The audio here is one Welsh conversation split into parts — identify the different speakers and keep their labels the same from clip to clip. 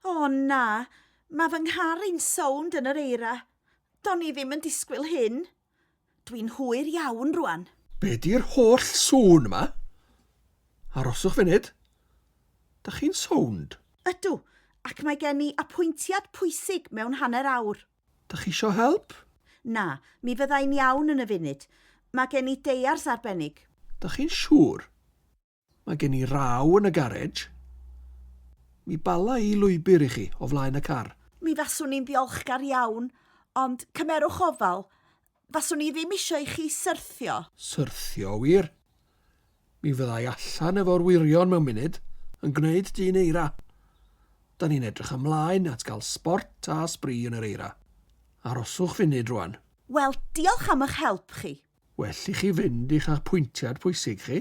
Speaker 1: O na, mae fy nghar i'n sownd yn yr eira. Do'n i ddim yn disgwyl hyn. Dwi'n hwyr iawn rwan. Be di'r holl
Speaker 2: sŵn yma? Aroswch funud. Dach chi'n sownd? Ydw,
Speaker 1: ac mae gen i apwyntiad pwysig mewn hanner awr. Dach chi isio
Speaker 2: help? Na, mi
Speaker 1: fydda i'n iawn yn y funud. Mae gen i deiars arbennig. Dach chi'n siŵr?
Speaker 2: Mae gen i raw yn y garej. Mi bala i lwybr i chi o flaen y car. Mi faswn i'n
Speaker 1: ddiolchgar iawn, ond cymerwch ofal, faswn i ddim isio i chi syrthio. Syrthio,
Speaker 2: wir? Mi fydda i allan efo'r wyrion mewn munud, yn gwneud dyn eira. Da ni'n edrych ymlaen at gael sbort a sbri yn yr eira. Aroswch funud rwan. Wel, diolch
Speaker 1: am ych help chi. Well i chi
Speaker 2: fynd i'ch apwyntiad pwysig chi.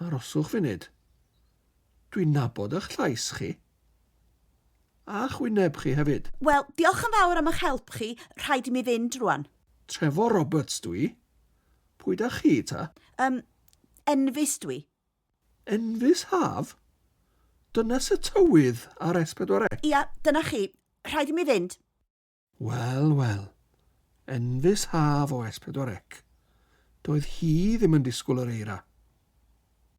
Speaker 1: Aroswch
Speaker 2: funud. Dwi'n nabod ych llais chi. A'ch wyneb chi hefyd. Wel, diolch yn fawr
Speaker 1: am ych help chi, rhaid i mi fynd rwan. Trevor Roberts
Speaker 2: dw i. Pwy da chi ta? Yym,
Speaker 1: Enfys dw i. Enfys
Speaker 2: haf? Dynes y tywydd ar S4C? Ia, dyna chi.
Speaker 1: Rhaid i mi fynd. Wel,
Speaker 2: wel. Enfys haf o S4C. Doedd hi ddim yn disgwyl yr eira.